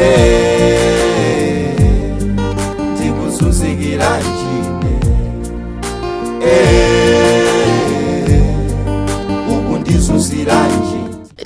Eh, ndikuzunzikiranji Eh, ukundizunziranji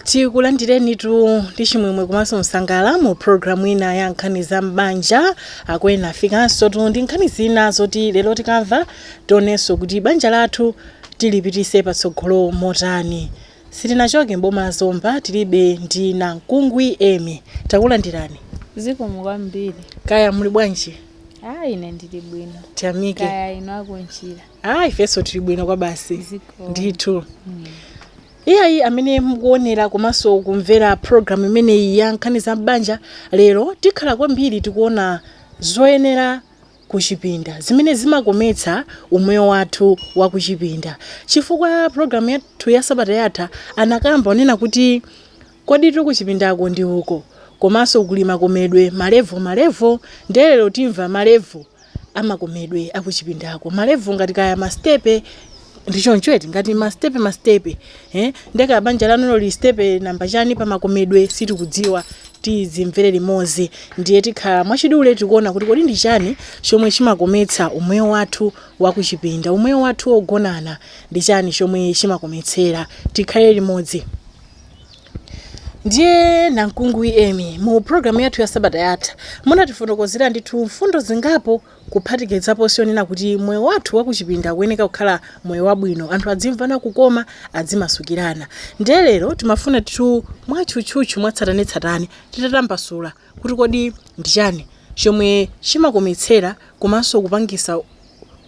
tikulandirenitu ndi chimwemwe komanso msangalalo mu programu ina ya nkhani za m'banja akwena afikansotu ndi nkhani zina zoti lero tikamva tionenso kuti banja lathu tilipitise patsogolo motani Sitinachoke m'boma la Zomba tili be ndi nankungwi Emmie. Takulandirani. Zikomo kwambiri. Kaya muli bwanji? Ah, ine ndili bwino. Tiyamike. Kaya inu Akunchira. Ah, ifenso tili bwino kwa basi. Zikomo. Ndithu. Iyayi amene mukuonera komanso kumvera program imeneyi ya nkhani za m'banja lero tikhala kwambiri tikuona zoyenera kuchipinda, zimene zimakometsa umoyo wathu wa kuchipinda. Chifukwa program yathu ya sabata yatha anakamba wonena kuti koditu kuchipindako ndi uko, komanso kuli makomedwe ma level ma level, ndiye lero timva ma level a makomedwe a kuchipindako. Ma level ngati kaya ma step. ndi choncho eti ngati masitepe masitepe eh? nde kaya banja lanulo lili sitepe namba chani pamakomedwe sitikudziwa tizimvere limodzi ndiye tikhala mwachidule tikuona kuti kodi ndi chani chomwe chimakometsa umoyo wathu wakuchipinda umoyo wathu wogonana ndi chani chomwe chimakometsera tikhale limodzi ndiye nankungwi Emmie mu programu yathu ya sabata yatha munatifotokozera ndithu mfundo zingapo kuphatikizaponso yonena kuti moyo wathu wa kuchipinda ukuyeneka kukhala moyo wabwino, anthu adzimvana kukoma, adzimasukirana. Ndiye lero timafuna kuti tu mwatchutchutchu, mwatsatanetsatane titatambasula kuti kodi ndi chani chomwe chimakometsera komanso kupangisa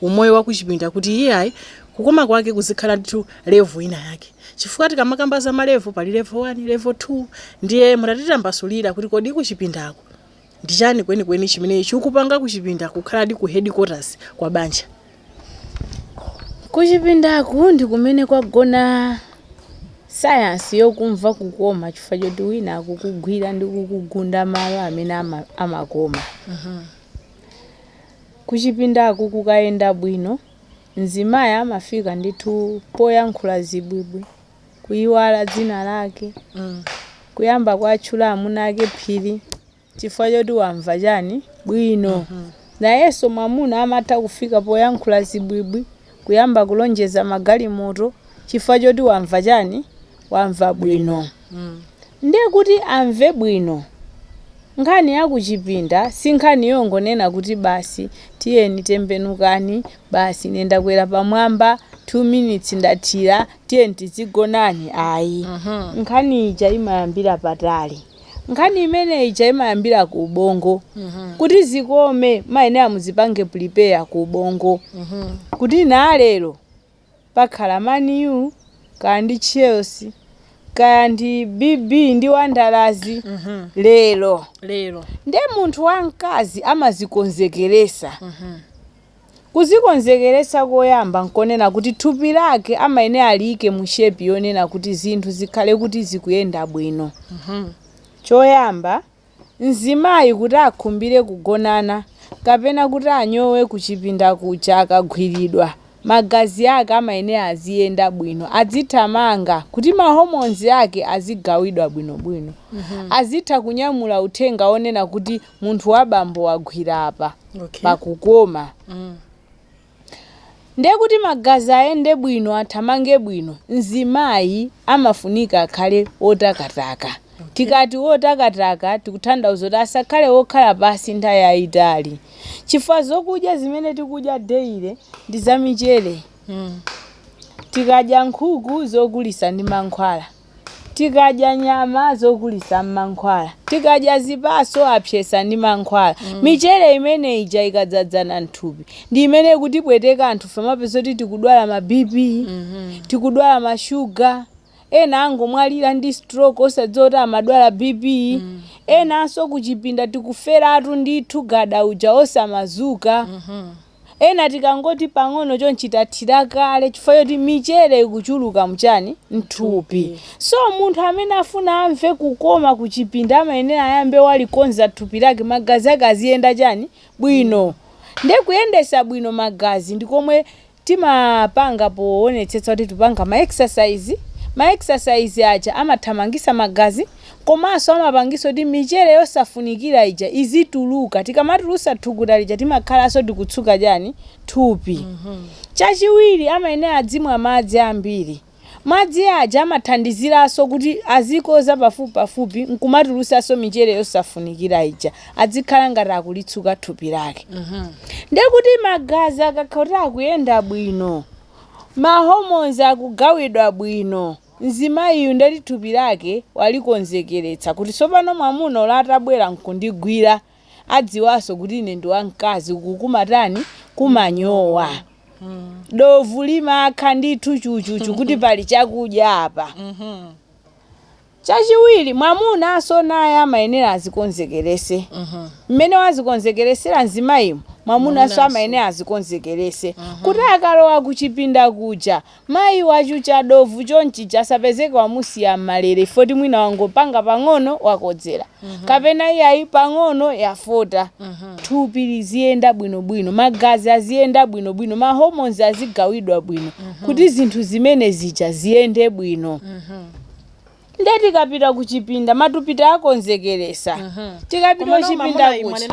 umoyo wa kuchipinda kuti iyayi kukoma kwake kuzikhala ndithu level ina yake chifukwa tikamakamba za ma level pali level 1, level 2 ndiye mutatitambasulira kuti kodi kuchipindako. Ndi chani kwenikweni chimene chikupanga kuchipinda kukhaladi ku headquarters kwa banja? Kuchipindaku ndi kumene kwagona sayansi yokumva kukoma chifukwa choti wina akukugwira ndi kukugunda malo amene amakoma. Kuchipindaku kukayenda bwino, mzimayi amafika ndithu poyankhula zibwibwi. kuyiwala dzina lake mm. kuyamba kuwatchula amuna ake phiri chifukwa choti wamva chani bwino mm -hmm. nayenso mwamuna amatha kufika poyankhula zibwibwi kuyamba kulonjeza magalimoto chifukwa choti wamva chani wamva bwino mm. ndiye kuti amve bwino nkhani yakuchipinda si nkhani yongonena kuti basi tiyeni tembenukani basi ine ndakwera pamwamba 2 minutes ndathira tiyeni tizigonana ayi nkhani ija imayambira patali nkhani imene ija imayambira ku ubongo kuti zikome mumayenera muzipange prepare ku ubongo kuti na lero pakhala man u kaya ndi chelsea kaya ndi bb ndi wanderers lero lero nde munthu wamkazi amazikonzekeresa Kuzikonzekeresa koyamba nkonena kuti thupi lake amayenera aliike mu shape yonena kuti zinthu zikhale kuti zikuyenda bwino. Choyamba, mzimayi kuti akhumbire kugonana kapena kuti anyowe kuchipinda kuja akagwiridwa, magazi ake amayenera aziyenda bwino, adzithamanga kuti ma hormones ake azigawidwa bwinobwino, azitha kunyamula uthenga wonena kuti munthu wabambo wagwira apa pakukoma ndiye kuti magazi ayende bwino athamange bwino mzimayi amafunika akhale wotakataka tikati wotakataka tikutanthauza kuti asakhale wokhala pansi nthawi yayitali chifukwa zokudya zimene tikudya daily ndi zamichere tikadya nkhuku zokulisa ndi mankhwala Tikadya nyama zokulisa mmankhwala. Tikadya zipatso apsesa ndi mankhwala. Michere imene ija ikadzadzana mthupi ndi imene ikutipweteka anthufe mwapeza kuti tikudwala ma BP, tikudwala ma shuga, ena angomwalira ndi stroke osadziwa kuti amadwala BP, enanso kuchipinda tikuferatu ndithu gada uja osamazuka. Ena tikangoti pang'ono chonchi tathira kale chifukwa choti michere ikuchuluka mu chani? M'thupi. So munthu amene afuna amve kukoma kuchipinda amayenera ayambe walikonza thupi lake, magazi ake aziyenda chani? Bwino. Ndiye kuyendesa bwino magazi ndi komwe timapanga powonetsetsa kuti tikupanga ma exercise, ma exercise aja amathamangisa magazi, Komanso amapangisa kuti michere yosafunikira ija izituluka. Tikamatulusa thukuta lija timakhalanso tikutsuka chani? Thupi. Chachiwiri amayenera adzimwa madzi ambiri. Madzi aja amathandiziranso kuti azikodza pafupipafupi nkumatulusanso michere yosafunikira ija. Adzikhala ngati akulitsuka thupi lake. Ndiye kuti magazi akakhala kuti akuyenda bwino, ma hormones akugawidwa bwino, Mzimayiyu ndeti thupi lake walikonzekeretsa kuti tsopano mwamuna olo atabwera nkundigwira adziwanso kuti ine ndi wamkazi uku kumatani kumanyowa. Dovu limakha ndithu chuchuchu kuti pali chakudya apa. Chachiwiri mwamunanso naye amayenera azikonzekerese. Mmene wazikonzekeresera mzimayimu mwamunanso amayenera azikonzekerese kuti akalowa kuchipinda kuja Mayi wachucha dovu choncho asapezeke wamusiya m'malere if not mwina wangopanga pang'ono wakodzera kapena iyayi pang'ono yafota. Thupi liziyenda bwinobwino, magazi aziyenda bwinobwino, ma hormones azigawidwa bwino kuti zinthu zimene zija ziyende bwino. nde tikapita kuchipinda matupi takonzekeresa tikapita kuchipinda kuja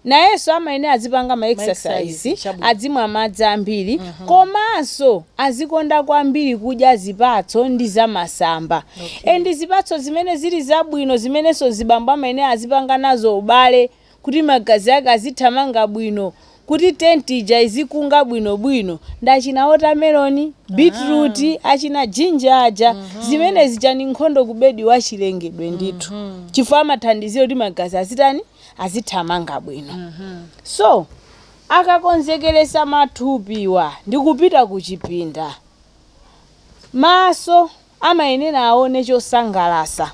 nayenso amayenera azipanga ma exercise, adzimwa madzi ambiri komanso azikonda kwambiri kudya zipatso ndi zamasamba and zipatso zimene zili zabwino zimenenso zibambo amayenera azipanga nazo ubale kuti magazi ake azithamanga bwino, kuti tenti ija izikunga bwinobwino, ndi achina watermelon, beetroot, achina ginger aja, zimene zija ndi nkhondo ku bedi wa chilengedwe ndithu, chifukwa amathandizira kuti magazi azitani, azithamanga bwino. So, akakonzekeresa mathupiwa ndi kupita kuchipinda, maso amayenera aone chosangalasa.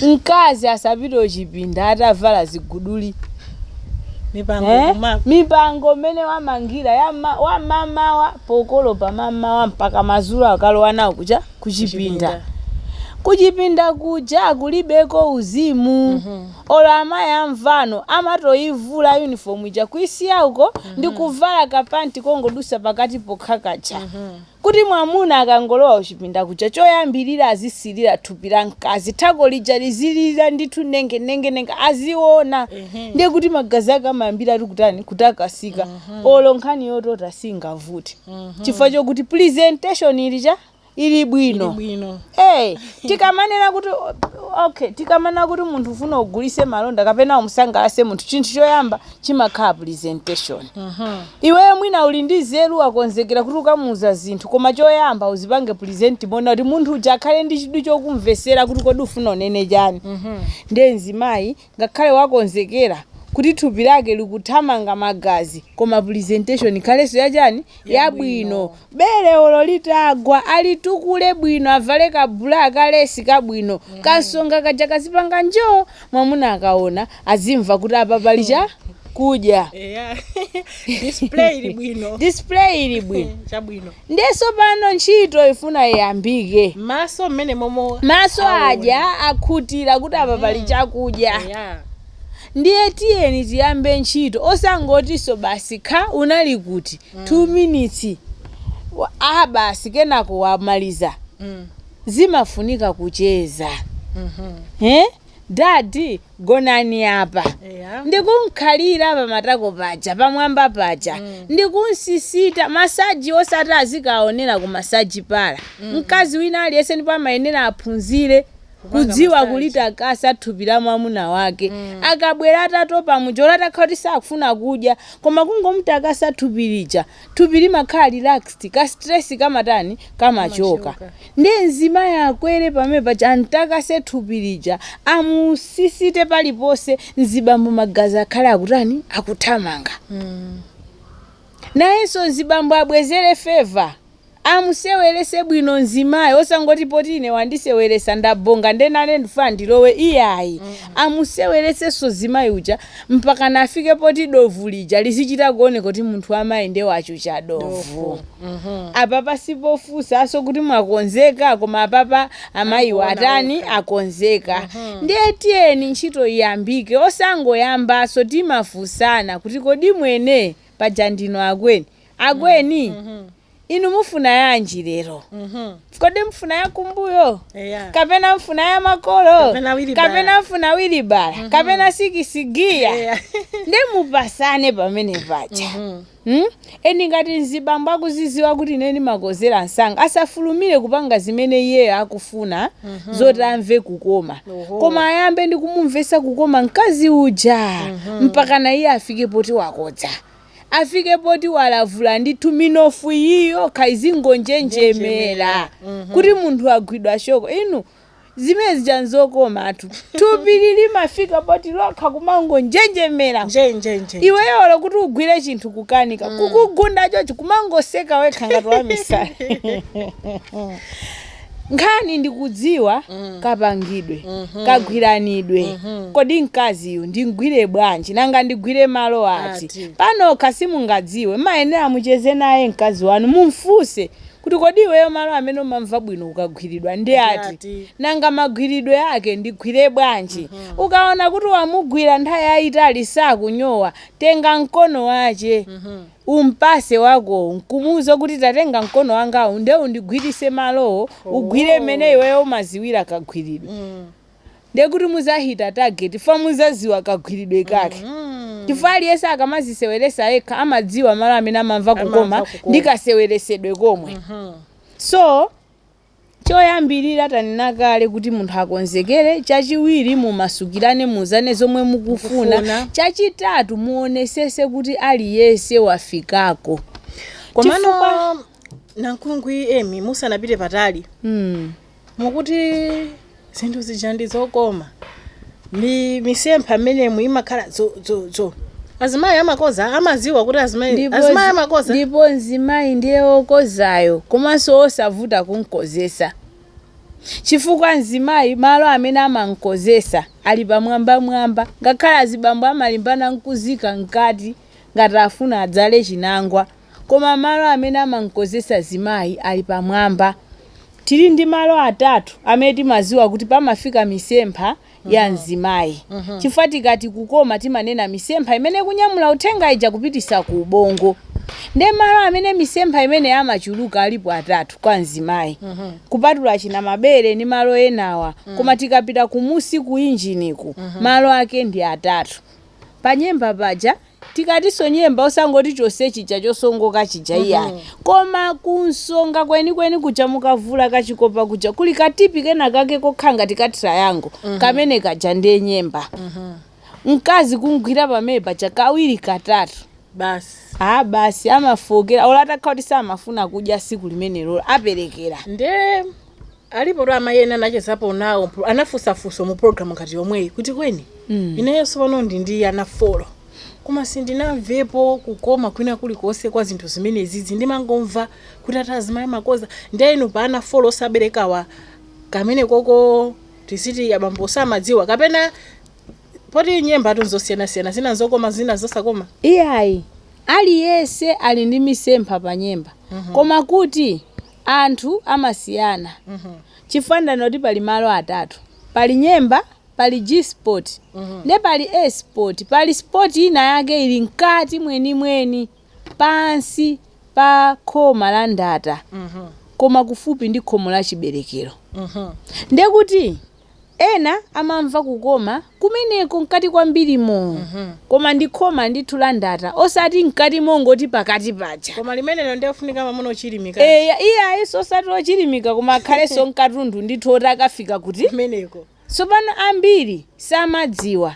Mkazi asapite kuchipinda atavala ziguduli. Mipango mmene wamangira wa mamawa pokolopa mamawa mpaka mazulo akalowa nawo ku cha kuchipinda kuchipinda kuja kulibeko uzimu olo amayi amvano amatoyivula uniform ija kuisiya uko ndi kuvala kapanti kongodusa pakati pokha kaja kuti mwamuna akangolowa kuchipinda kuja choyambilira azisilira thupi la mkazi thako lija lizilira ndithu nenge nenge nenge aziona ndiye kuti magazi ake amayambira ali kutani kutakasika olo nkhani yotota singavute chifukwa chokuti presentation ili chani ili bwino bwino tikamanena kuti okay, tikamanena kuti munthu ufuna ugulise malonda kapena umsangalase munthu chinthu choyamba chimakhala presentation iweyo mwina uli ndi zeru wakonzekera kuti ukamuuza zinthu koma choyamba uzipange present mwina kuti munthu uja akhale ndi chidwi chokumvesera kuti kodi ufuna unene chani ndiye mzimayi ngakhale wakonzekera kuti thupi lake likuthamanga magazi koma presentation ikhalenso yachani yabwino Bere olo litagwa alitukule bwino avale ka bra ka lesi kabwino ka nsonga kaja kazipanga njo mwamuna akaona azimva kuti apa pali chakudya. Display ili bwino. Chabwino. ndiye sopano ntchito ifuna iyambike Maso mmene momo maso adya akhutira kuti apa pali chakudya ndiye tiyeni tiyambe ntchito osangotinso basi kha unali kuti 2 minutes aah basi kenako wamaliza zimafunika kucheza eeh dad gonani apa ndikunkhalira pamatako paja pamwamba paja ndikunsisita masaji osati azikaonera ku masaji parlour mkazi wina aliyense ndipo amayenera aphunzire kudziwa kulitakasa thupi la mwamuna wake akabwera atatopa muja olo atakhala kuti sakufuna kudya koma kungomutakasa thupi lija thupi limakhala relaxed ka stress kamatani kamachoka nde mzimayi akwere pamene paja amtakase thupi lija amusisite paliponse mzibambo magazi akhale akutani akuthamanga nayenso mzibambo abwezere feva Amusewelese bwino mzimayi osangoti poti ine wandisewelesa ndabhonga nde nane ndfuna ndilowe iyayi amusewelesenso mzimayi uja mpaka naye afike poti dovu lija lizichita kuoneka kuti munthu amayi nde wachucha dovu apapa sipofunsaso kuti mwakonzeka koma apapa amayiwo atani akonzeka ndiye tiyeni ntchito iyambike osangoyambaso timafunsana kuti kodi mwene paja ndinu akweni akweni Mhm. inu mufuna yanji lero Mhm. kodi mfuna yakumbuyo Eya. kapena mfuna ya makolo Kapena wilibala. kapena mfuna wilibala kapena sikisigiya Eya. nde mupasane pamene paja Mhm. Hmm? eni ngati mzibambo akuziziwa kuti ine ndimakozera msanga asafulumire kupanga zimene iyeyo akufuna zoti amve kukoma Oho. koma ayambe ndi kumumvesa kukoma mkazi uja mpaka naye afike poti wakodza afike poti walavula ndithu minofu iyi yokha izingonjenjemera kuti munthu agwidwa shoko inu zimene zija nzokomatu thupili limafika poti lokha kumangonjenjemera iweyo olo kuti ugwire chinthu kukanika kukugunda chochi kumangoseka wekha ngati wamisala Nkhani ndi kudziwa kapangidwe, kagwiranidwe, kodi mkaziyu ndimgwire bwanji, nanga ndigwire malo ati? Ati. Panokha simungadziwe, mmayenera mucheze naye mkazi wanu mumfunse kuti kodi iweyo malo amene umamva bwino ukagwiridwa ndi ati? ati. Nanga magwiridwe ake ndigwire bwanji? Ukaona kuti wamugwira nthawi yayitali sakunyowa, tenga mkono wache. Umpase wako, nkumuuza kuti, Tatenga mkono wangawu nde undigwirise malowo, ugwire mmene iweyo umaziwira kagwiridwe. Nde kuti muzahita target chifukwa muzaziwa kagwiridwe kake. Chifukwa aliyese akamaziseweresa ekha amadziwa malo amene amamva kukoma ndi kaseweresedwe komwe. So. Choyambirira tanena kale kuti munthu akonzekere, chachiwiri mumasukirane muuzane zomwe mukufuna, chachitatu muonesese kuti aliyense wafikako Komano chifukwa nankungwi Emmy musanapite patali mm. mukuti zinthu zija ndi zokoma ndi misempha mmenemu imakhala dzo dzo dzo azimayi amakoza, amaziwa kuti azimayi Ndipo azimayi zi- amakoza ndipo mzimayi ndiye wokozayo komanso wosavuta kumkozesa chifukwa mzimayi malo amene amamkozesa ali pamwambamwamba ngakhale azibambo amalimbana nkuzika mkati ngati afuna adzale chinangwa koma malo amene amamkozesa mzimayi ali pamwamba. Tili ndi malo atatu amene timaziwa kuti pamafika misempha ya mzimayi chifukwa tikati kukoma timanena misempha imene ikunyamula uthenga ija kupitisa ku ubongo. Nde malo amene misempha imene imachuluka alipo atatu kwa mzimayi kupatula achina mabere ndi malo enawa koma tikapita kumunsi ku injiniku malo ake ndi atatu. Panyemba paja Tikatinso nyemba osangoti chonse chija chosongoka chija iyayi koma kunsonga kwenikweni kuja mukavula kachikopa kuja kuli ka tipi kenakake kokhala ngati ka triangle kamene kaja ndiye nyemba mkazi kumgwira pamene paja kawiri katatu basi aa basi amafookeratu olo atakhala kuti samafuna kudya siku limenelolo aperekera nde Alipotu amayi ena anachezapo nawo mpro- anafunsa funso mu program ngati yomweyi kuti kweni Mm. ineyo pano ndi ndi ana folo koma sindinamvepo kukoma kwina kulikonse kwa zinthu zimenezizi ndimangomva kuti ati azimayi amakoza ndiye inu pa ana folo osaberekawa kamene koko tiziti abambo samadziwa kapena poti nyembatu nzosiyanasiyana zina nzokoma zina nzosakoma iyayi aliyense ali ndi misempha pa nyemba koma kuti Anthu amasiyana chifukwa ndanena kuti pali malo atatu. Pali Nyemba, pali G spot nde pali A spot. Pali spot ina yake ili mkati mwenimweni pansi pa khoma la Ndata koma kufupi ndi khomo la Chiberekero. Ndekuti Ena amamva kukoma kumeneko mkati kwambirimo. Koma ndi khoma ndithu la ndata, osati mkati mongoti pakati paja. Koma limenelo ndiye ofunika mamuna ochilimika. Eya, iyayiso osati ochilimika koma akhalenso nkatundu ndithu oti akafika kuti. Kumeneko. Tsopano ambiri samadziwa.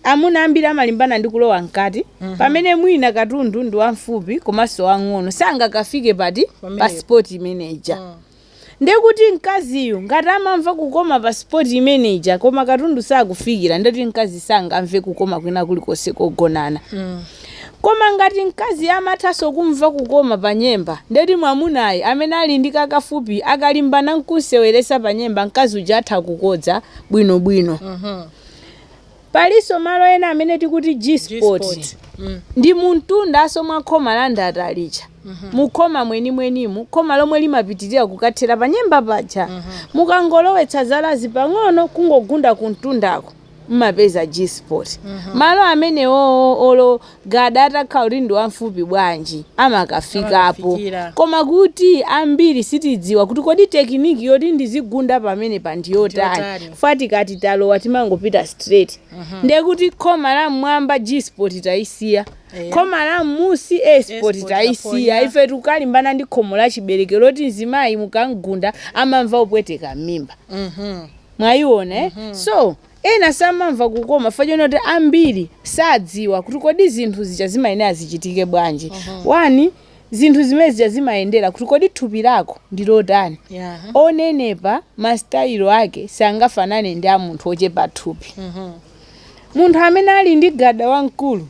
Amuna ambiri amalimbana ndi kulowa mkati pamene mwina katundu ndi wamfupi komanso wamng'ono sangakafike pati pa Pamenepo. spot imene ija. Nde kuti mkaziyu ngati amamva kukoma pa spot imene ija koma katundu sakufikira nde kuti mkazi sangamve kukoma kwina kulikonse kogonana. Koma ngati mkazi amathanso kumva kukoma pa nyemba nde kuti mwamunayo amene ali ndi kakafupi akalimbana nkumseweresa pa nyemba mkazi uja atha kukodza bwinobwino. Palinso malo ena amene tikuwati G spot ndi mumtundanso mwa khoma la ndata lija. Mukhoma mwenimwenimu, khoma lomwe limapitirira kukathera panyemba paja, mukangolowetsa zalazi pang'ono kungogunda kumtundako, m'mapeza G spot. Malo amenewowo olo Gada atakhala kuti ndi wamfupi bwanji amakafikapo koma kuti ambiri sitidziwa kuti kodi tekiniki yoti ndizigunda pamenepa ndi yotani chifukwa tikati talowa timangopita straight ndiye kuti khoma la mmwamba G spot taisiya khoma la mmusi A spot taisiya ife tikukalimbana ndi khomo la chiberekero loti mzimayi mukamgunda amamva kupweteka m'mimba mwayiona so Ena samamva kukoma chifukwa chonena kuti ambiri sadziwa kuti kodi zinthu zija zimayenera zichitike bwanji. One, zinthu zimene zija zimayendera kuti kodi thupi lako ndi lotani. Onenepa masitayilo ake sangafanane ndi a munthu ochepa thupi. Munthu amene ali ndi gada wamkulu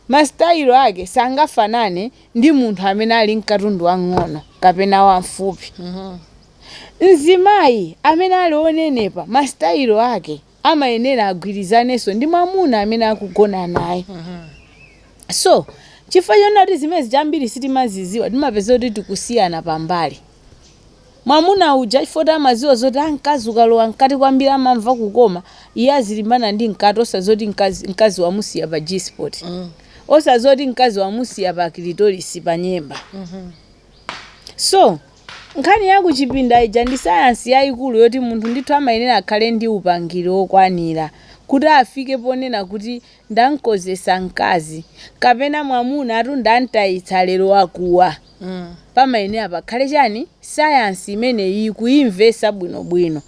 masitayilo ake sangafanane ndi munthu amene ali n'katundu wamng'ono kapena wamfupi. Mzimayi amene ali onenepa masitayilo ake amayenera agwirizanenso ndi mwamuna amene akugona naye. So, chifukwa chonena kuti zimene zija ambiri sitimazidziwa, timapeza kuti tikusiyana pambali. Mwamuna uja chifukwa kuti amadziwa zoti mkazi ukalowa mkati kwambiri amamva kukoma, iye azilimbana ndi mkati osadziwa kuti mkazi wamusiya pa G-spot. Osadziwa kuti mkazi wamusiya pa clitoris, pa nyemba. So, nkhani ya kuchipinda ija ndi sayansi yaikulu yoti munthu ndithu amayenera akhale ndi upangiri wokwanira kuti afike ponena kuti ndamkozesa mkazi kapena mwamuna ati ndamtayitsa lero wakuwa. Pamayenera pakhale chani sayansi imeneyi kuimvesa bwinobwino.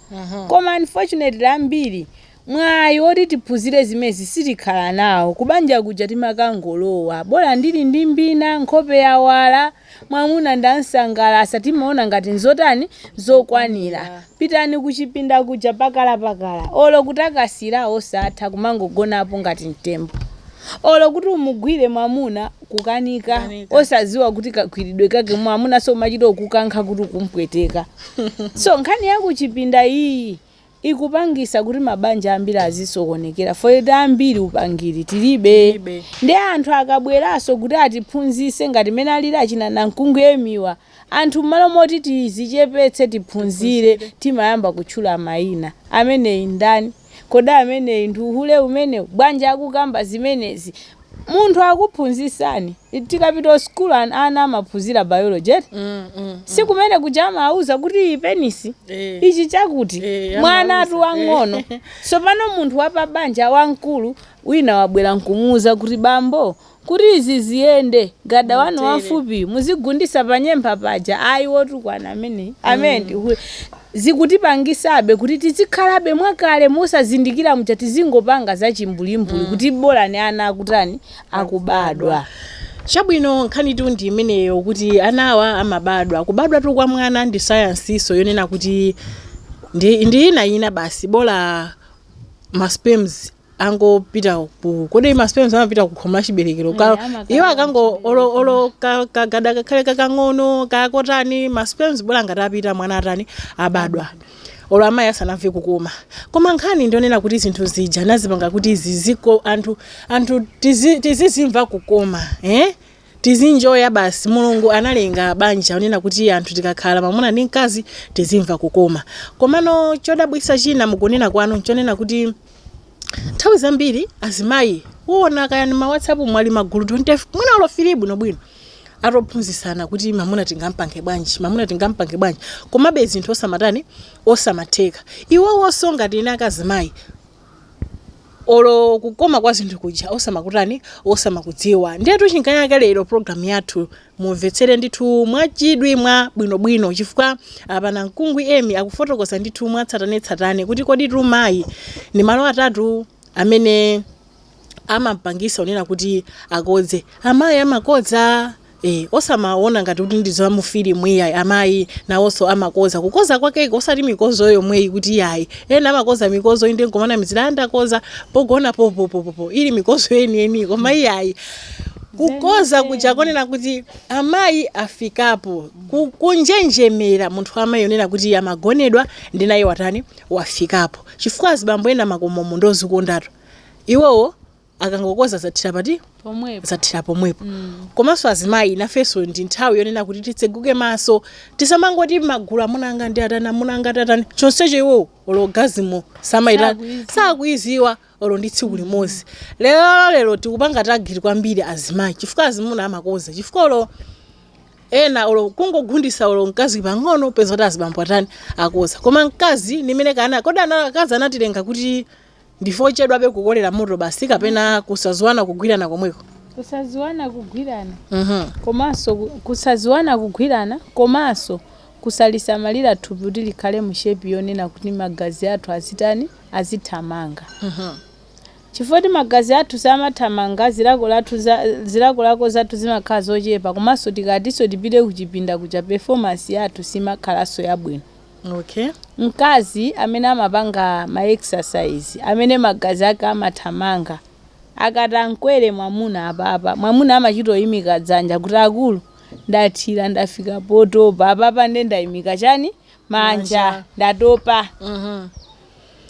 Koma unfortunately ambiri Mwayi oti tiphunzire zimenezi sitikhala nawo. Kubanja kuja timakangolowa, bola ndili ndi mbina, nkhope yawala, mwamuna ndam'sangalatsa, timaona ngati n'zotani? Zokwanira. Pitani kuchipinda kuja pakalapakala, olo kutakasira osatha, kumangogonapo ngati mtembo. Olo kuti umugwire mwamuna kukanika, osadziwa kuti kagwiridwe kake mwamunanso umachita kukankha kuti ukum'pweteka. So nkhani ya kuchipinda iyi ikupangisa kuti mabanja ambiri azisokonekera fault ambiri upangiri tilibe Tilibe. ndiye anthu akabweraso kuti atiphunzise ngati mene alili achina nankungwi Emmy wa anthu mmalo moti tizichepetse tiphunzire timayamba kutchula maina ameneyi ndani kodi ameneyi ndi uhule umenewu bwanji akukamba zimenezi munthu akuphunzisani tikapita school ana amaphunzira biology eti mm, mm, mm. si kumene kuja amawauza kuti iyi penis eh. ichi chakuti eh, mwanatu wang'ono eh. tsopano munthu wapabanja wamkulu wina wabwera nkumuuza kuti bambo kuti izi ziziyenda gada wanu wafupi muzigundisa panyemba paja ayi wotukwana amene amene mm. zikutipangisabe kuti tizikhalabe mwakale mosazindikira muja tizingopanga za chimbuli-mbuli kuti bolani ana akutani akubadwa. Chabwino nkhanitu ndi imeneyo kuti anawa amabadwa. Kubadwatu kwa mwana ndi sayansinso yonena kuti ndi, ndi ina ina basi bola ma sperms angopita ku kodi ma sperms amapita ku khomo la chiberekero Eh, ka amakhala iwo akango ku olo olo ka- kagada kakhale kakang'ono kakotani ma sperms bola ngati apita mwana atani abadwa olo amayi asanamve kukoma koma nkhani ndi yonena kuti zinthu zija anazipanga kuti ziziko anthu anthu tizi- tizizimva kukoma eh? tizienjoya basi mulungu analenga banja kunena kuti anthu tikakhala mamuna ndi mkazi tizimva kukoma komano chodabwisa china mukunena kwanu nchonena kuti nthawi zambiri azimayi uona kaya ni ma whatsapp mu ali m'magulu 20 mwina olo three bwinobwino akuphunzitsana kuti mamuna tingampange bwanji mamuna tingampange bwanji komabe zinthu osamatani osamatheka iwowonso ngati ineyo azimayi olo kukoma kwa zinthu kuja osamakutani osamakudziwa ndiyetu chifukwa chake lero programu yathu Mumvetsere ndithu mwa chidwi mwa bwinobwino chifukwa apa Nankungwi Emmy akufotokoza ndithu mwa tsatanetsatane kuti koditu mayi ndi malo atatu amene amampangisa kunena kuti akodze. Amayi amakodza Eh, osamaona ngati kuti ndi za mu filimu iyayi amayi nawonso amakoza kukoza kwakeko osati mikozo yomweyi kuti iyayi ena amakoza mikozo inde nkumanamizira ndakoza pogona popopopopo ili mikozo yeniyeni koma iyayi kukoza kuja konena kuti amayi afikapo ku- kunjenjemera munthu amayi onena kuti iye amagonedwa ndi naye watani wafikapo chifukwa azibambo ena makomomu ndozikondatu iwowo akangokoza zathira pati pomwepo zathira pomwepo komanso azimayi nafenso ndi nthawi yonena kuti titseguke maso tisamangoti magulu amuna anga ndi atani amuna anga atani chonsecho iwowo orgasm samayitani Sakuiziwa. sakuiziwa olo ndi tsiku limodzi lero lero tikupanga timagwiri kwambiri azimayi chifukwa azimuna amakoza chifukwa olo ena olo kungogundisa olo mkazi pang'ono peza kuti azibambo atani akoza koma mkazi ndi amene kana kodi ana- akazi anatilenga kuti ndife ochedwabe kukolera moto basi kapena kusaziwana kugwirana komweko kusaziwana kugwirana Mhm. komanso ku- kusaziwana kugwirana komanso kusalisamalira thupi kuti likhale mu shape yonena kuti magazi athu azitani azithamanga. Chifukwa choti magazi athu samathamanga, zilako lathu za, zilakolako zathu zimakhala zochepa komanso tikatinso tipite kuchipinda kuja performance yathu simakhalanso yabwino. Okay. Mkazi amene amapanga ma exercise, amene magazi ake amathamanga, akati amkwere mwamuna apapa, mwamuna amachita koyimika dzanja kuti akulu ndathira ndafika potopa apapa nde ndayimika chani, manja Manja. ndatopa Mhm.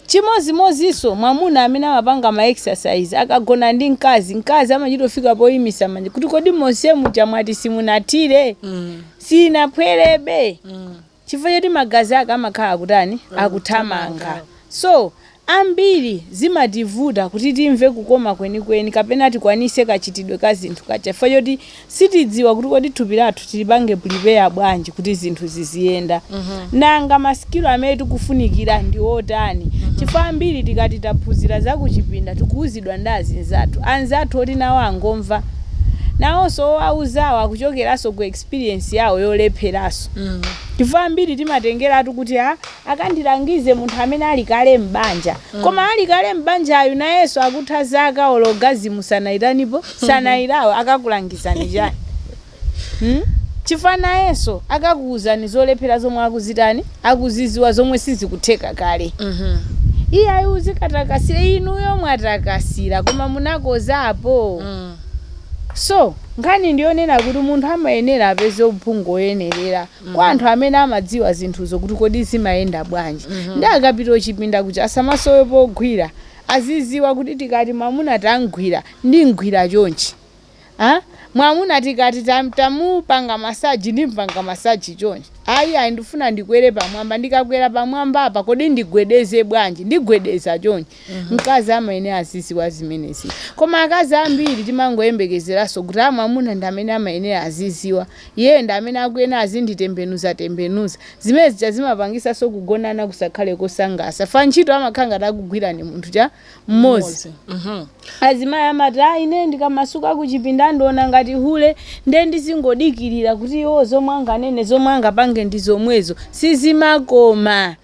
chimozimozinso mwamuna amene amapanga ma exercise akagona ndi mkazi mkazi amachita kufika poyimisa manja kuti kodi monse muja mwati simunathire Mm. sinaphwerebe Mm. chifukwa choti magazi ake amakhala akutani akuthamanga so Ambiri zimativuta kuti timve kukoma kwenikweni kapena tikwanise kachitidwe ka zinthu kaja chifukwa choti sitidziwa kuti kodi thupi lathu tilipange prepare bwanji kuti zinthu ziziyenda. Nanga ma skill amene tikufunikira ndi otani? Chifukwa ambiri tikati taphunzira za kuchipinda tikuuzidwa ndi azinzathu, anzathu oti nawo angomva. Nawonso owauzawo akuchokeranso ku experience yawo yolepheranso. Chifukwa ambiri timatengeratu kuti ah, akandilangize munthu amene ali kale m'banja koma ali kale m'banjayu nayenso akutha zaka orgasm sanayitanipo sanayilawe akakulangizani chani hmm? chifukwa nayenso akakuuzani zolephera zomwe akuzitani akuziziwa zomwe sizikutheka kale iye ayi uzikatakasira inuyo mwatakasira koma munakozapo so nkhani ndiyonena kuti munthu amayenera apeze uphungu woyenerera kwa anthu amene amadziwa zinthuzo kuti kodi zimayenda bwanji nde akapita kuchipinda kuja asamasowe pogwira aziziwa kuti tikati mwamuna tamgwira ndimgwira chonchi a mwamuna tikati tam, tamupanga masaji ndimpanga masaji chonchi ayi ayi ndifuna ndikwere pamwamba ndikakwera pamwambapa kodi ndigwedeze bwanji ndigwedeza chonchi mkazi amayenera azidziwa zimenezi koma akazi ambiri timangoyembekezeranso kuti amwamuna ndi amene amayenera azidziwa iyeyo ndi amene akuyenera azinditembenuzatembenuza zimene zija zimapangisanso kugonana kusakhale kosangasa fa ntchito amakhala ngati akugwira ndi munthu chani mmodzi azimayi amati ayi ine ndikamasuka kuchipinda andiona ngati hule nde ndizingodikirira kuti iwo zomwe anganene zomwe angapange ndi zomwezo sizimakoma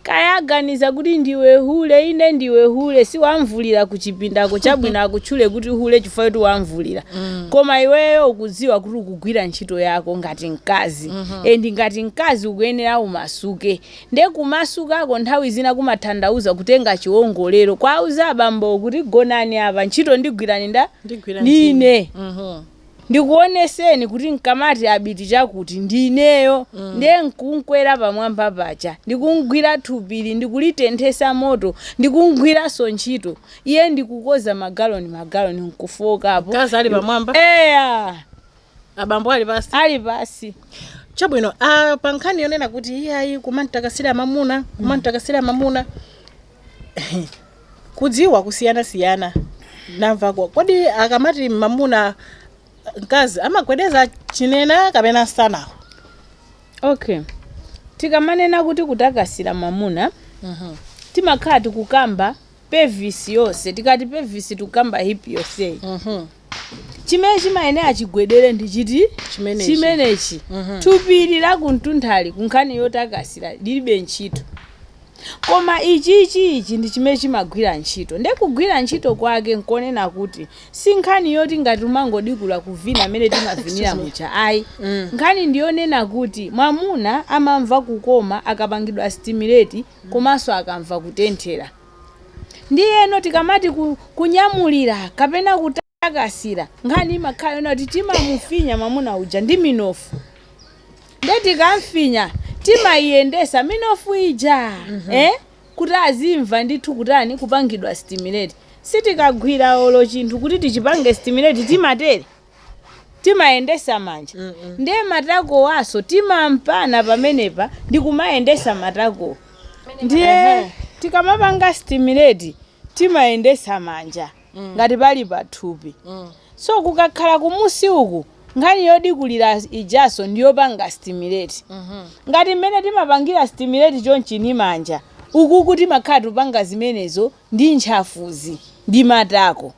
Kaya aganiza kuti ndiwe hule ine ndiwe hule siwamvulira kuchipindako chabwino akutchule kuti hule chifukwa kuti wamvulira koma iweyo ukudziwa kuti ukugwira ntchito yako ngati mkazi and ngati mkazi ukuyenera umasuke nde kumasukako nthawi zina kumathandauza kutenga chiwongolero kwauza abambowo kuti gonani apa ntchito ndigwirani nda Ndigwira ndine Mhm. ndikuoneseni kuti nkamati Abiti chakuti ndi ineyo ndiye nkumkwera pamwamba paja ndikumgwira thupili ndikulitenthesa moto ndikumgwiranso ntchito iye ndi kukoza magaloni magaloni nkufookapo Mkazi ali pamwamba? eya abambo ali pansi ali pansi chabwino ah, pa nkhani yonena kuti iyayi kumantakasira mamuna kumantakasira mamuna kudziwa kusiyanasiyana namva ko- kodi akamati mamuna mkazi amagwedeza chinena kapena msanawo okay tikamanena kuti kutakasira mamuna timakhala tikukamba pelvis yonse tikati pelvis tikukamba hip yonseyi chimene chimayenera chigwedere ndi chiti Chimenechi. chimenechi Mhm. thupi ili lakumtundali ku nkhani yotakasira lilibe ntchito koma ichi ichi ichi ndi chimene chimagwira ntchito nde kugwira ntchito kwake nkonena kuti si nkhani yoti ngati umangodikula kuvina amene timavinira Excuse me. mucha ayi Mm. nkhani ndiyonena kuti mwamuna amamva kukoma akapangidwa stimulate komanso akamva kutenthera Ndiyeno tikamati ku, kunyamulira kapena kutakasira, nkhani imakhala yonena kuti timamufinya mwamuna uja ndi minofu. Nde tikamfinya timaiyendesa minofu ija eh, kuti azimva ndithu kutani kupangidwa stimulate. Sitikagwira olo chinthu kuti tichipange stimulate timatere. timayendesa manja ndiye matakowaso timampana pamenepa ndi kumayendesa matako ndiye tikamapanga stimulate timayendesa manja ngati pali pathupi so kukakhala kumunsi uku nkhani yodikulira ijaso ndiyopanga stimulate ngati mmene timapangira stimulate chonchini manja ukuku timakhala tupanga zimenezo ndi ntchafuzi ndi matako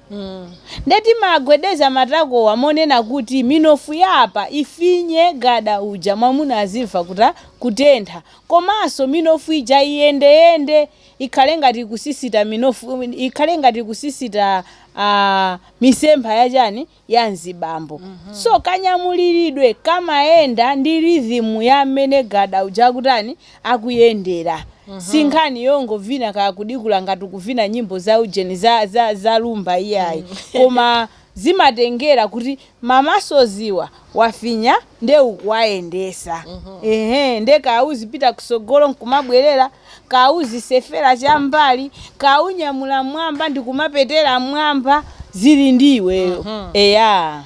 nde timagwedeza matakowa monena kuti minofu ya apa ifinye gada uja mwamuna azimva kuta kutentha komanso minofu ija iyendeyende ikhale ngati ikusisita minofu ikhale ngati ikusisita ah, misempha ya chani ya mzibambo. So kanyamuliridwe kamayenda ndi rhythm ya mmene gada uja akutani, akuyendera. Si nkhani yongovina kaya kudikula ngati ukuvina nyimbo za ujeni za za za Rhumba iyayi. Koma zimatengera kuti ma muscles-wa wafinya nde ukuwayendesa. Ehe nde kaya uzipita kusogolo nkumabwerera. kauzisefera cham'mbali, kaunyamula m'mwamba ndikumapetera m'mwamba, zili ndi iweyo. Eya.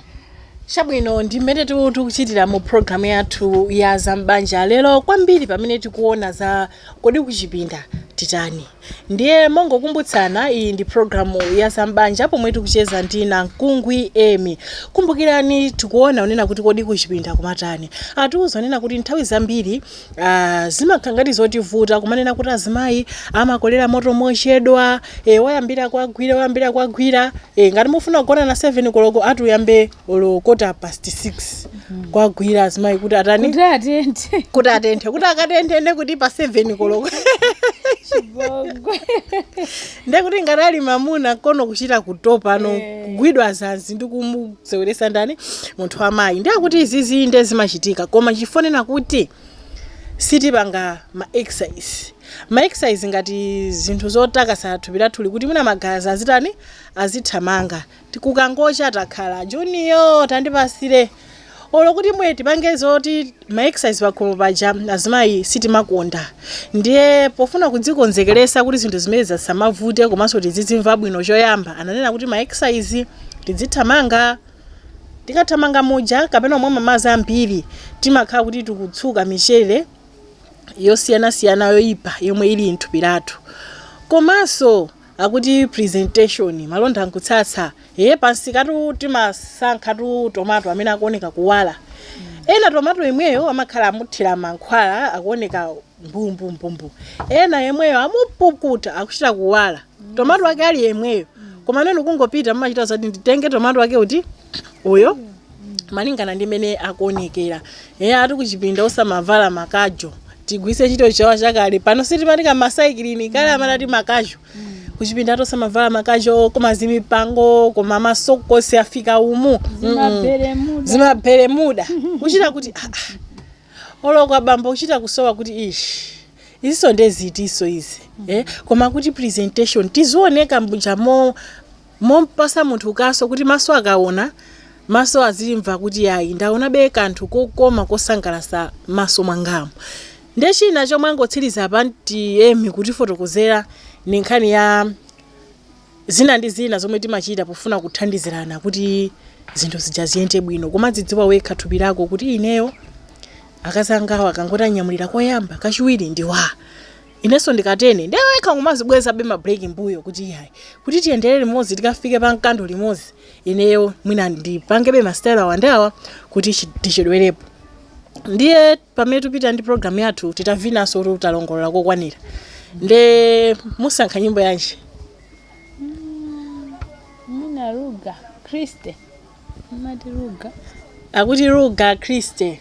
chabwino ndi mmene tu- tikuchitira mu programu yathu ya zam'banja lero kwambiri pamene tikuona za kodi kuchipinda titani ndiye mongokumbutsana iyi ndi programu ya zam'banja pomwe tikucheza ndi namkungwi Emi kumbukirani tikuona unena kuti kodi kuchipinda kumatani atiuza unena kuti nthawi zambiri Aaa zimakhala ngati zotivuta kumanena kuti azimayi amakolera moto mochedwa e, wayambira kuwagwira wayambira kuwagwira e, ngati mufuna kugonana 7 koloko ati uyambe olo kota past 6 kuwagwira azimayi kuti atani kuti atenthe kuti atenthe kuti akatenthe nde kuti pa 7 koloko chibongo nde kuti ngati ali mamuna kono kuchita kutopa no Eh. kugwidwa zanzi ndi kumu seweresa ndani munthu wa mayi ndiye kuti izizi inde zimachitika koma chifonena kuti sitipanga ma exercise ma exercise ngati zinthu zotakasa thupi lathuli kuti mwina magazi azitani azithamanga eti kukangocha takhala juniyo tandipasire olo kuti mwe tipange zoti ma exercise pakhomo paja azimayi sitimakonda ndiye pofuna kudzikonzekeresa kuti zinthu zimenezi zisamavute komanso tizidzimva bwino choyamba ananena kuti ma exercise tidzithamanga tikathamanga muja kapena kumwa mamazi ambiri timakhala kuti tikutsuka michere yosiyanasiyana yoyipa yomwe ili mthupi lathu komanso akuti presentation malonda nkutsatsa ee pansikatu timasankhatu tomato amene akuoneka kuwala ena tomato yemweyo amakhala amuthira mankhwala akuoneka mbumbumbumbu ena yemweyo amupukuta akuchita kuwala tomato ake ali yemweyo koma nenu kungopita mumachita zoti nditenge tomato ake uti uyo malingana ndi mmene akuonekera eya ati kuchipinda usamavala makajo tigwise ntchito Chichewa chakale pano si timati ka masaikilini kale amatati makajo kuchipinda ati osamavala makajo koma zimipango koma masokosi afika umu Mm-mm. zimabermuda kuchita kuti ah, ah. oloko abambo kuchita kusowa kuti ishi iziso nde zitiso izi eh? koma kuti presentation tizioneka muja mo Mom'pasa munthu kaso kuti maso akaona, maso azimva kuti yayi ndaonabe kanthu kokoma kosangalasa m'maso mwangamu. Nde china chomwe angotsiliza apa anti Emi kutifotokozera ndi nkhani ya zina ndi zina zomwe timachita pofuna kuthandizirana kuti zinthu zija ziyende bwino. Kumadzidziwa wekha thupi lako kuti ineyo akazi angawa akangoti anyamulira koyamba, kachiwiri ndi wa. Inenso ndikatene ndiwekha n'kumazibwezabe ma break mbuyo kuti iyayi kuti tiyendere limodzi tikafike pa mkando limodzi ineyo mwina ndipangebe ma style awa ndi awa kuti chi- tichedwerepo ndiye pamene tikupita ndi program yathu titavinanso kuti titalongolola kokwanira nde musankha nyimbo yanji mina ruga kriste mati ruga akuti ruga kriste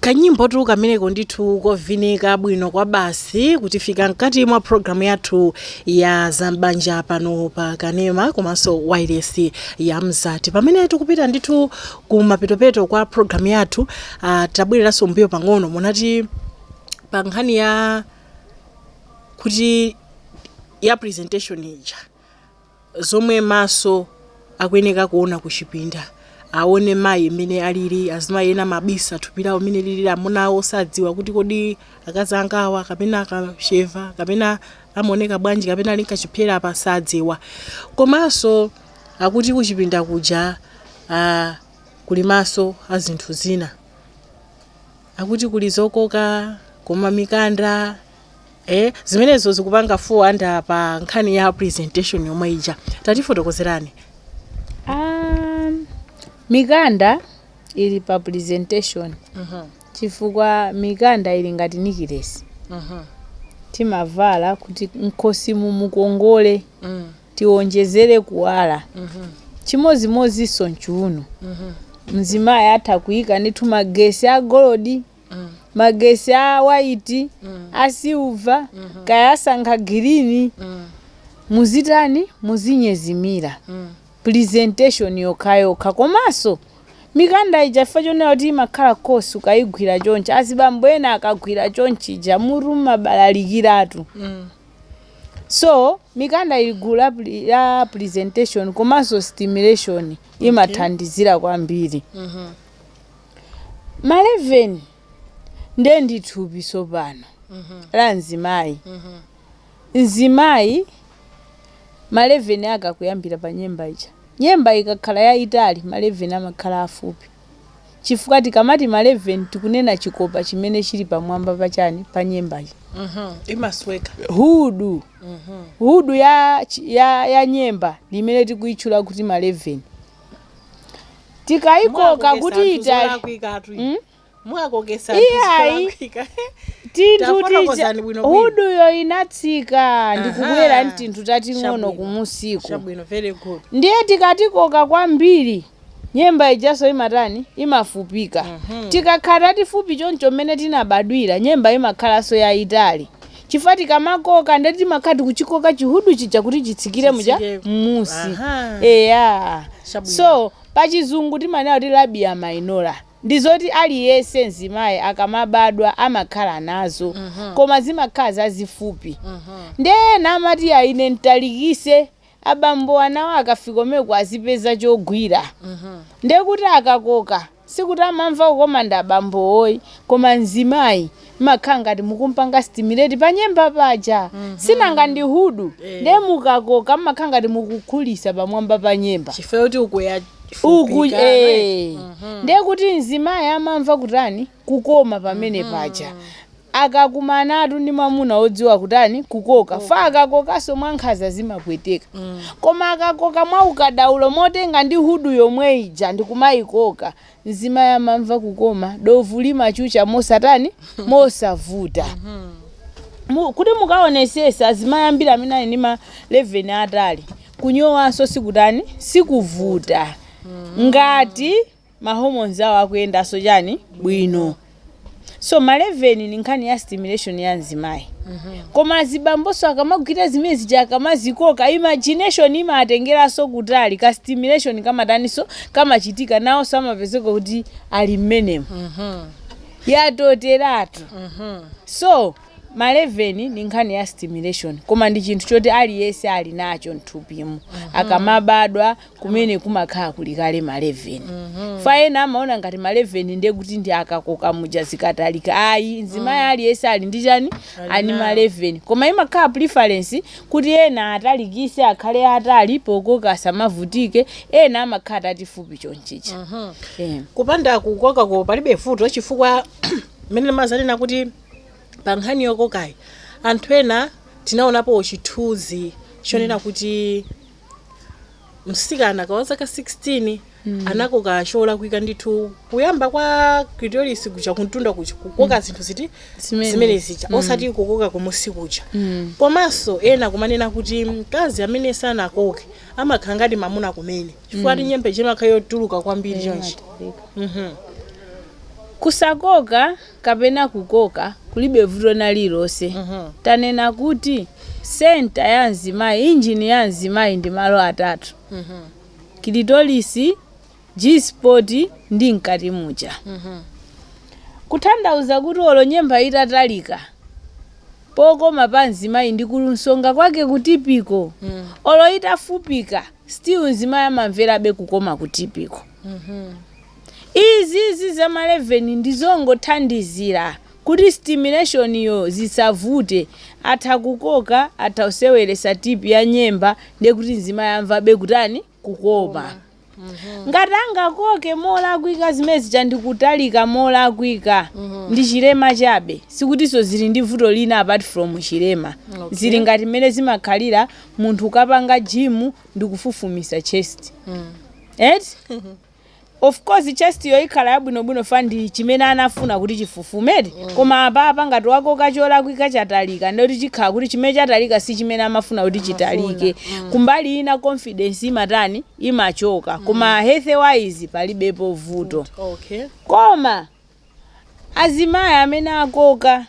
kanyimbotu kameneko ndithu kovinika bwino kwa basi kutifika mkati mwa programu yathu ya zambanja pano pa kanema komanso wailesi ya Mzati pamene tikupita ndithu Kumapetopeto kwa program yathu uh, tabwereranso mbuyo pang'ono munati pa nkhani ya kuti ya presentation ija zomwe maso akuyeneka kuona kuchipinda aone mayi mmene alili azimayi ena amabisa thupi lawo mmene lilili amuna awo sadziwa kuti kodi akazi angawa kapena akasheva kapena amaoneka bwanji kapena ali nkachipyera apa sadziwa komanso Akuti kuchipinda kuja aah kuli maso a zinthu zina. Akuti kuli zokoka koma mikanda eeh zimenezo zikupanga fall under pa nkhani ya presentation yomwe ija. Tatifotokozerani. Aah mikanda ili pa presentation chifukwa mikanda ili ngati nikilesi timavala kuti m'khosimu mukongole. tiwonjezere kuwala. Chimodzimodzinso m'chuuno. Mzimayi atha kuika ndithu magesi a golodi, magesi a waiti, a silva, kaya asankha girini. Muzitani? Muzinyezimira. Presentation yokhayokha. Komanso mikanda ija chifukwa chonena kuti imakhala coarse ukaigwira chonchi, azibambo ena akagwira chonchija mutu umabalalikiratu. So mikanda ili gulu la, pre- la presentation komanso stimulation imathandizira kwambiri. Maleveni ndiye ndi thupi tsopano la mzimayi. Mzimayi maleveni ake akuyambira pa nyemba ija. Nyemba ikakhala yayitali maleveni amakhala afupi. chifukwa tikamati maleven tikunena chikopa chimene chili pamwamba pa chani pa nyemba ija imasweka hudu hudu ya, chi- ya, ya nyemba limene tikuitchula kuti maleven tikayikoka kuti itali Mm? mwakokesa Iyayi. zolakwika. tinthu tija Tafotokozani bwino bwino. huduyo inatsika ndikubwera Aha. mtinthu tating'ono Chabwino. kumusiku chabwino very good ndiye tikatikoka kwambiri Nyemba ijaso imatani? Imafupika. Tikakhala tatifupi choncho mmene tinabadwira, nyemba imakhalanso yaitali. Chifukwa tikamakoka ndekuti timakhala tikuchikoka chihudu chija kuti chitsikire muja Chitsike. mmusi. Aha. Eya. Chabwino. So, pa chizungu timanena kuti labia minora. Ndi zoti aliyense mzimayi akamabadwa amakhala nazo. Koma zimakhala zazifupi. Ndiye ena amati ayi ine nditalikise abambo anawo akafika kumeneko azipeza chogwira ndekuti akakoka sikuti amamva kukoma ndi abambowo ayi koma mzimayi mmakhala ngati mukumpanga stimulate pa nyemba paja sinanga ndi hudu nde mukakoka mmakhala ngati mukukhulisa pamwamba pa nyemba chifukwa kuti ukuya uku fupika, right? eh. ndekuti mzimayi amamva kutani kukoma pamene paja. Akakumanatu ndi mwamuna wodziwa kutani, kukoka. Fa akakokanso mwankhanza zimapweteka. Koma akakoka mwaukadaulo motenga ndi hudu yomwe ija ndi kumaikoka, mzimayi amamva kukoma, dovu limachucha mosatani, mosavuta. Mu, kuti mukaonesese azimayi ambiri amene ali ndi ma 11 aatali, kunyowanso sikutani, sikuvuta. Ngati ma hormones awo akuyendanso chani bwino so ma 11 ni nkhani ya stimulation ya mzimayi koma azibambonso akamagwira zimene zija akamazikoka imagination imatengeranso kutali ka stimulation kamataniso kamachitika nawonso amapezeka kuti ali mmenemu yatoteratu so ma 11 ni nkhani ya stimulation koma ndi chinthu choti aliyense ali nacho mthupimu akamabadwa kumene kumakhala kuli kale ma leven fa ena amaona ngati ma leven ndiye kuti ndi akakoka muja zikatalika ayi mzimayi aliyense ali ndi chani ali ndi ma leven koma imakhala preference kuti ena atalikise akhale atali pokoka asamavutike ena amakhala tatifupi chonchicha Eh. kupanda kukokako palibe vuto chifukwa mmene mumanena kuti pa nkhani yokokayi anthu ena tinaonapo chithunzi chonena kuti msikana wazaka 16 mm. anakoka cholakwika ndithu kuyamba kwa clitoris kuja kuntunda kuja kukoka mm. zinthu ziti Zimene. zimene zija mm. osati kukoka kumusi kuja mm. komanso ena kumanena kuti mkazi amene sanakoke amakhala ngati mamuna kumene chifukwa mm. nyemba imakhala yotuluka kwambiri chonchi kusakoka kapena kukoka kulibe vuto lina lililonse. Tanena kuti center ya mzimayi, engine ya mzimayi ndi malo atatu, kilitorisi, G spot ndi mkati muja. Kutanthauza kuti olo nyemba itatalika pokoma pa mzimayi ndi kunsonga kwake kutipiko, olo itafupika still mzimayi amamverabe kukoma kutipiko. Izizi za ma 11 ndi zongothandizira kuti stimulation yo zisavute, atha kukoka, atha kuseweretsa tip ya nyemba ndiye kuti mzimayi amvabe kutani? kukoma. Ngati angakoke molakwika zimene zija ndi kutalika molakwika ndi chilema chabe sikutinso zili ndi vuto lina apart from chilema. Okay. Zili ngati mmene zimakhalira munthu ukapanga gym ndi kufufumisa chest. Eti? Of course chest yo ikhala yabwinobwino fa ndi chimene anafuna kuti chifufume eti koma apapa ngati wakoka cholakwika chatalika ndiye kuti chikhala kuti chimene chatalika si chimene amafuna kuti chitalike kumbali ina confidence imatani imachoka koma health wise palibepo vuto Okay. koma azimayi amene akoka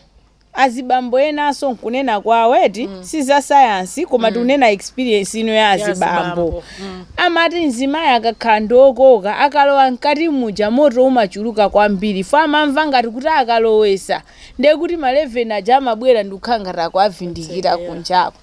azibambo enanso nkunena kwawo eti si za sayansi koma tikunena experience ino ya azibambo azibambo. Mm. amati mzimayi akakhala ndi okoka akalowa mkati muja moto umachuluka kwambiri fa amamva ngati kuti akalowesa ndiye kuti ma 11 aja amabwera ndikukhala ngati akuwavindikira kunjako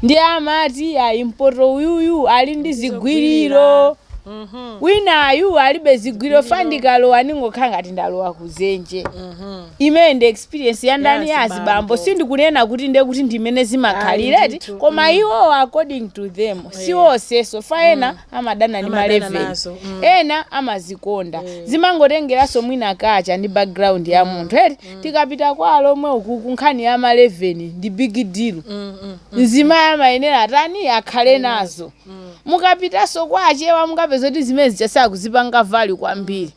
ndiye amati ayi mpoti uyuyu ali ndi zigwiriro Mhm. winayu alibe zigwiriro fa ndikalowa ndingokhala ngati ndalowa kuzenje Mhm. imene ndi experience ya ndani ya Ya azibambo azibambo. sindikunena kuti ndiye kuti ndimene zimakhalira eti ndithu, koma iwo according to them si onsenso fa ena amadana ndi Amadana maleveni nazo, mm. ena amazikonda zimangotengeranso mwina kacha ndi background ya munthu eti tikapita kwa alomwe uku kunkhani ya maleveni ndi big deal mzimayi amayenera atani akhale nazo mukapitanso kwa achewa mukapeza kuti zimene zija sakuzipanga value kwambiri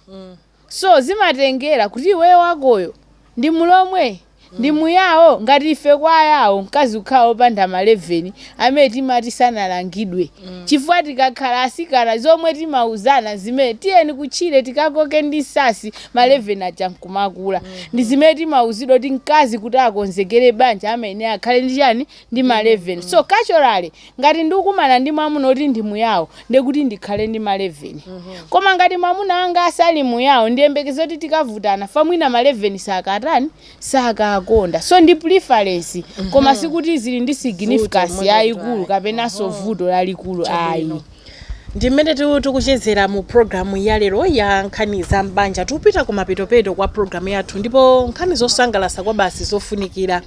So zimatengera kuti iweyo wakoyo ndi mulomwe? Ndi muyao? Ngati ife kwa ayao mkazi kukhala opanda ma leveni amene timati sanalangidwe chifukwa tikakhala asikana zomwe timauzana nzimene tiyeni kutchire tikakoke ndi nsasi ma leveni aja nkumakula ndi zimene timauzidwa kuti mkazi kuti akonzekere banja amayenera akhale ndi chani? Ndi ma leveni. So culturally Ngati ndikumana ndi mwamuna oti ndi muyao nde kuti ndikhale ndi ma 11. Koma ngati mwamuna wanga asali muyao ndiyembekeze kuti tikavutana fa mwina ma 11 sakatani sakakonda. So ndi preference koma sikuti zili ndi significance yayikulu kapenanso vuto lalikulu ayi. Ndi mmene tikuchezera mu program ya lero ya nkhani za m'banja. Tikupita kumapetopeto kwa program yathu ndipo nkhani zosangalatsa kwabasi zofunikira.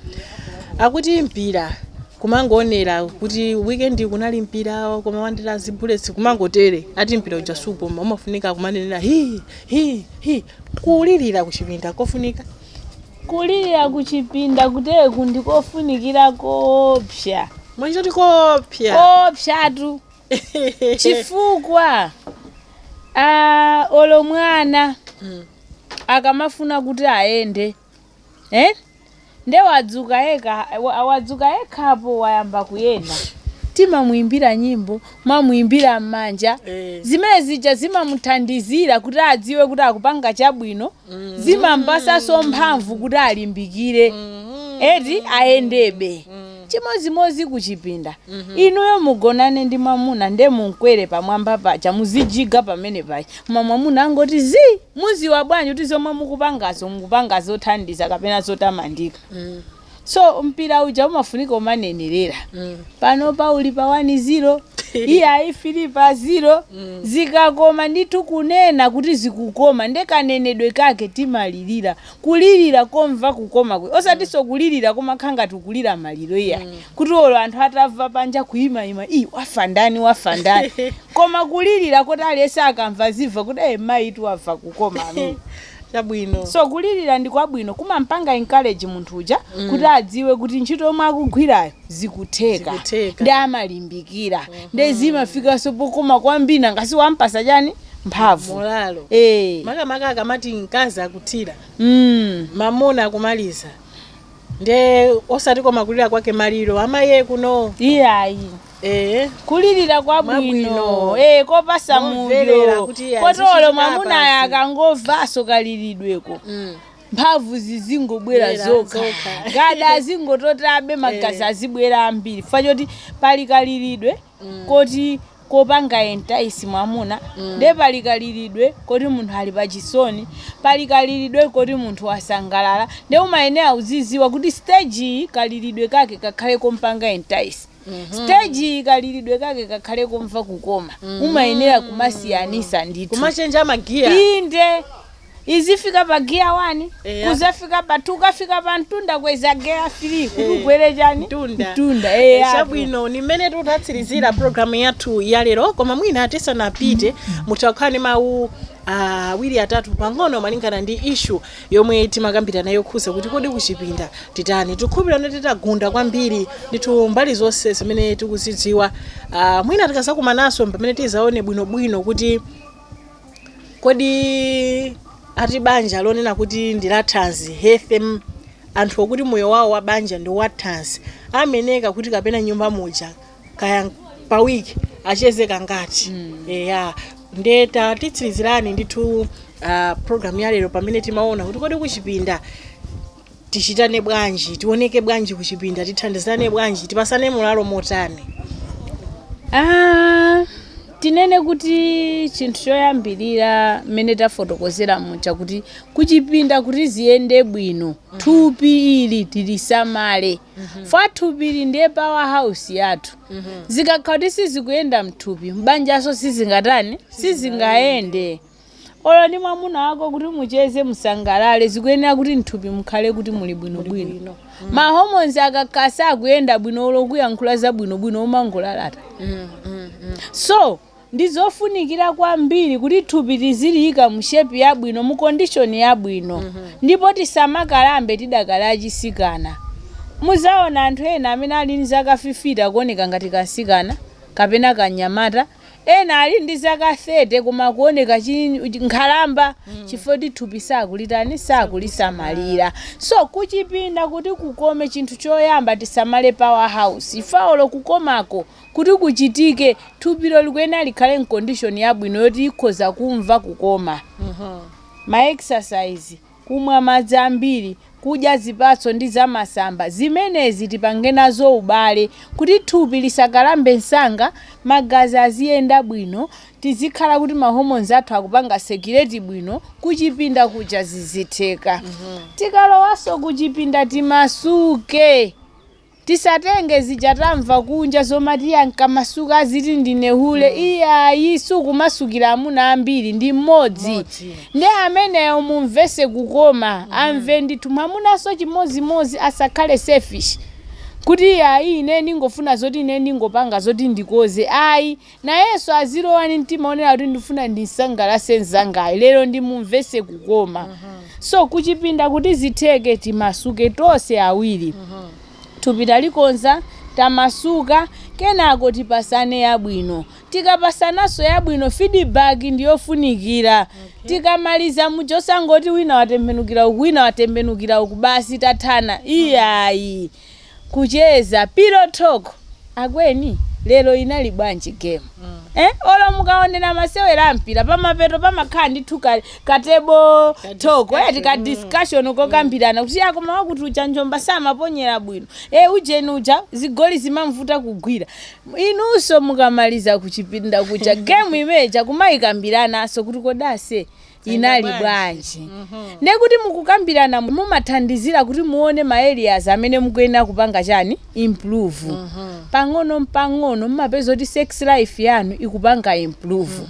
Akuti mpira kumangoonera kuti weekend kunali mpira koma wandira zibullets kumangotere ati mpira uja sukoma umafunika kumanenera hi hi hi kulirira kuchipinda kofunika Kulirira kuchipinda kutereku ndi kofunikira koopsa. Mwanji kuti koopsa? Koopsatu. Chifukwa ah, olo mwana Mm. akamafuna kuti ayende eh? nde wadzuka yekhapo wayamba kuyenda timamuimbira nyimbo mamuimbira m'manja Eh. zimene zija zimamuthandizira kuti adziwe kuti akupanga chabwino zimampasaso mphamvu kuti alimbikire eti ayendebe chimozimozi kuchipinda inuyo mugonane ndi mwamuna nde mumkwere pamwamba paja muzijiga pamene paja koma mwamuna angoti zi muziwa bwanji kuti zomwe mukupangazo mukupanga zothandiza kapena zotamandika so mpira uja umafunika umanenerera panopa uli pa 1 ziro iyayi 3 pa ziro zikakoma ndithu kunena kuti zikukoma nde kanenedwe kake timalirira kulirira komva kukoma kwe osatinso kulirira komakhala ngati ukulira maliro iyayi kuti olo anthu atamva panja kuyimayima ii wafa ndani wafa ndani koma kulirira koti aliyense akamva azimva kuti e mayitu wamva kukoma amene chabwino so kulirira ndi kwabwino kumampanga encourage munthu uja mm. kuti adziwe kuti ntchito yomwe akugwirayo zikutheka Zikutheka. nde amalimbikira mm -hmm. nde zimafikanso pokoma kwambiri nanga si wampasa chani mphamvu molalo Eh. makamaka akamati mkazi akuthira mm. mamuna akumaliza nde osati koma kulira kwa kumaliro amaye kuno iyayi Eeh, kulirira kwabwino Mwabwino. eh, kopasa Momverera mudyo kuti azichita kotolo mwamunayo basi. akangomvanso kaliridweko Mm. mphamvu zizingobwera Bwera zokha zokha. gada azingototabe magazi Eh. azibwera ambiri fa choti pali kaliridwe Mm. koti kopanga entice mwamuna Mm. nde pali kaliridwe koti munthu ali pachisoni pali kaliridwe koti munthu wasangalala nde umayenera uziziwa kuti stage iyi kaliridwe kake kakhale kompanga entice stage kaliridwe kake kakhale komva kukoma umayenera kumasiyanisa ndithu kumachenja magiya inde izifika pa giya 1 Eya. kuzafika pa 2 kafika pa mtunda kweza geya 3 kuti ukwere chani Mtunda. mtunda eya chabwino ni mmene tikutsirizira pulogalamu yathu ya lero koma mwina tisanapite mutha kukhala ndi mawu awiri atatu pang'ono malingana ndi ishu yomwe timakambirana yokhuza kuti kodi kuchipinda titani tikhulupirira titagunda kwambiri ndithu mbali zonse zimene tikuzidziwa uh, mwina tikazakumananso mpamene tizaone bwinobwino kuti kodi ati banja lonena kuti ndi la thanzi healthy m- anthu okuti moyo wawo wa banja ndi wa thanzi ameneka kuti kapena nyumba muja kaya pa week acheze kangati eya nde tatitsirizirani ndithu uh, pulogalamu ya lero pamene timaona kuti kodi kuchipinda tichitane bwanji tioneke bwanji kuchipinda tithandizane bwanji tipasane mulalo motani Ah, tinene kuti chinthu choyambirira mmene tafotokozera muja kuti kuchipinda kuti ziyende bwino thupi ili tilisamale chifukwa thupi ili ndiye power house yathu zikakhala kuti sizikuyenda mthupi mbanjanso sizingatani sizingayende olo ndi mwamuna wako kuti mucheze musangalale zikuyenera kuti mthupi mukhale kuti muli bwinobwino mahomonzi akakhala sakuyenda bwino olo kuyankhula za bwinobwino umangolalata so Ndi zofunikira kwambiri kuti thupi tiziliika mu shape yabwino, mu condition yabwino. Ndipo tisamakalambe tidakali achisikana. Muzaona anthu ena amene ali ndi zaka fifite akuoneka ngati kamtsikana kapena kanyamata. Ena ali ndi zaka 30 koma kuoneka nkhalamba chifukwa choti thupi sakulitani, sakulisamalira. So kuchipinda kuti kukome chinthu choyamba tisamale power house. Chifukwa olo kukomako kuti kuchitike, thupilo likuyenera likhale m'kondishoni yabwino yoti likhoza kumva kukoma. Ma exercise, kumwa madzi ambiri, kudya zipatso ndi zamasamba, zimenezi tipange nazo ubale kuti thupi lisakalambe msanga, magazi aziyenda bwino, tizikhala kuti ma hormones athu akupanga circulate bwino, kuchipinda kuja zizitheka. Tikalowanso kuchipinda timasuke. Tisatenge zija tamva kunja zomati ndikamasuka aziti ndine hule iyayi sukumasukira amuna ambiri ndi mmodzi nde ameneyo mumvese kukoma amve ndithu mwamunanso chimodzimodzi asakhale selfish kuti iyayi ine ndingofuna zoti ine ndingopanga zoti ndikoze ayi Nayenso azilowa ndi mtima onena kuti ndifuna ndimsangalatse mzangayu lero ndimumvetse kukoma so kuchipinda kuti zitheke timasuke tonse awiri thupi talikonza tamasuka kenako tipatsane yabwino tikapatsananso yabwino feedback ndiyofunikira tikamaliza muja osangoti wina watembenukira uku wina watembenukira uku basi tathana iyayi kucheza pillow talk akweni lero inali bwanji game eh olo mukaonera masewera ampira pamapeto pamakhala ndithu ka, ka table talk yeti ka discussion kokambirana kuti akoma wakuti uja njomba samaponyera bwino eh ujeni uja zigoli zimamvuta kugwira inunso mukamaliza kuchipinda kuja game imeja kumayikambiranaso kuti kodase inali bwanji ndiye kuti mukukambirana mumathandizira kuti muone ma areas amene mukuyenera kupanga chani improve pang'ono mpang'ono mumapeza kuti sex life yanu ikupanga improve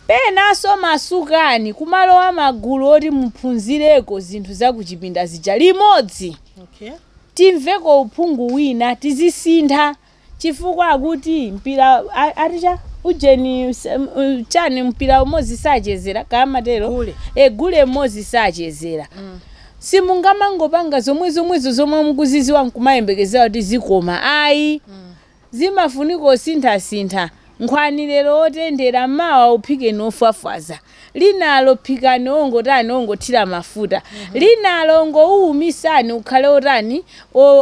penanso masukani kumalowa magulu oti muphunzireko zinthu zakuchipinda zija limodzi okay timveko uphungu wina tizisintha chifukwa akuti mpira a- ati cha ujeni s- m- u- chani mpira umodzi sachezera kamatero Gule. e gule mmodzi sachezera simungamangopanga zomwe zomwezo zomwe mukuziziwa nkumayembekezera kuti zikoma ayi zimafunika kusinthasintha nkhwani lero otendera mawa uphikeni ofwafwaza linalo phikani ongotani ongothira mafuta linalo ongouumisani ukhale otani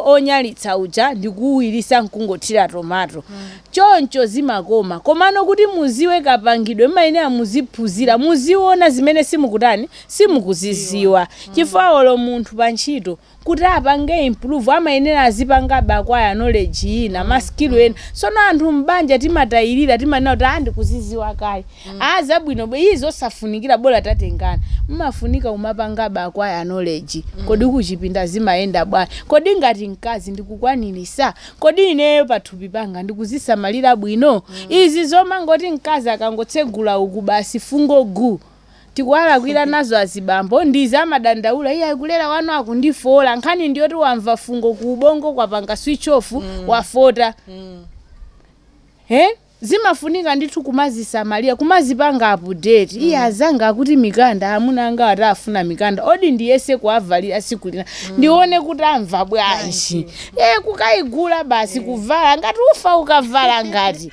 onyalitsa uja ndikuwirisa nkungothira tomato choncho zimakoma komano kuti muziwe kapangidwe mmayenera muziphunzira muziona zimene simukutani simukuziziwa chifukwa olo munthu pantchito kuti apange improve amayenera azipangabe acquire knowledge ina ma skill ena sono anthu m'banja timatayirira timanena kuti ah ndikuziziwa kale ah zabwinobe izo osafunikira bola tatengana mmafunika kumapangabe acquire knowledge kodi kuchipinda zimayenda bwanji kodi ngati mkazi ndikukwanirisa kodi ineyo pathupi panga ndikuzisamalira bwino izi zomangoti mkazi akangotsegula uku basi fungo gu tikuwalakwira nazo azibambo ndiye amadandaula iyayi kulera wanu akundifoola nkhani ndiyoti wamva fungo ku ubongo kwapanga switch off wafota he zimafunika ndithu kumazisamalira kumazipanga update iye azanga akuti mikanda amuna anga ati afuna mikanda odi ndiyese kuwavalira siku lina ndione kuti amva bwanji e kukayigula basi kuvala ngati ufa ukavala ngati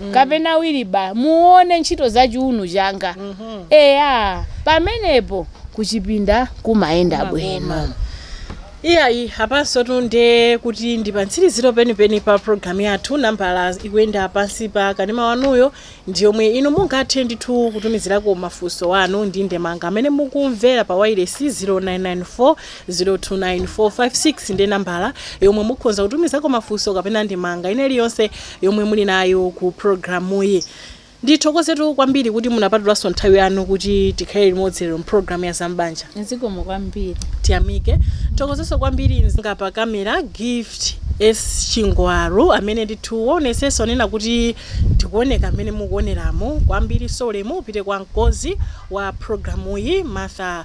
mm. kapena awiri bwa muone ntchito za chiunu changa mm -hmm. eya pamenepo kuchipinda kumayenda bwino iyayi apansotu nde kuti ndi pamtsiriziro penipeni pa programu yathu nambala ikuyenda pansi pa kanema wanuyo ndi yomwe inu mungathe ndithu kutumizirako mafunso anu ndi ndemanga amene mukumvera pa wailesi 0994 029456 ndi nambala yomwe mukhonza kutumizako mafunso kapena ndemanga ina iliyonse yomwe muli nayo ku programuyi. Ndithokozetu kwambiri kuti munapatulanso nthawi yanu kuti tikhale limodzi lero mprogramu ya zam'banja. Zikomo kwambiri. Tiyamike. Tithokozenso kwambiri mzanga pa kamera Gift S. Chingwaru amene ndithu waonetsetsa onena kuti tikuoneka mmene mukuoneramu. Kwambirinso ulemu upite kwa mkonzi wa programuyi Martha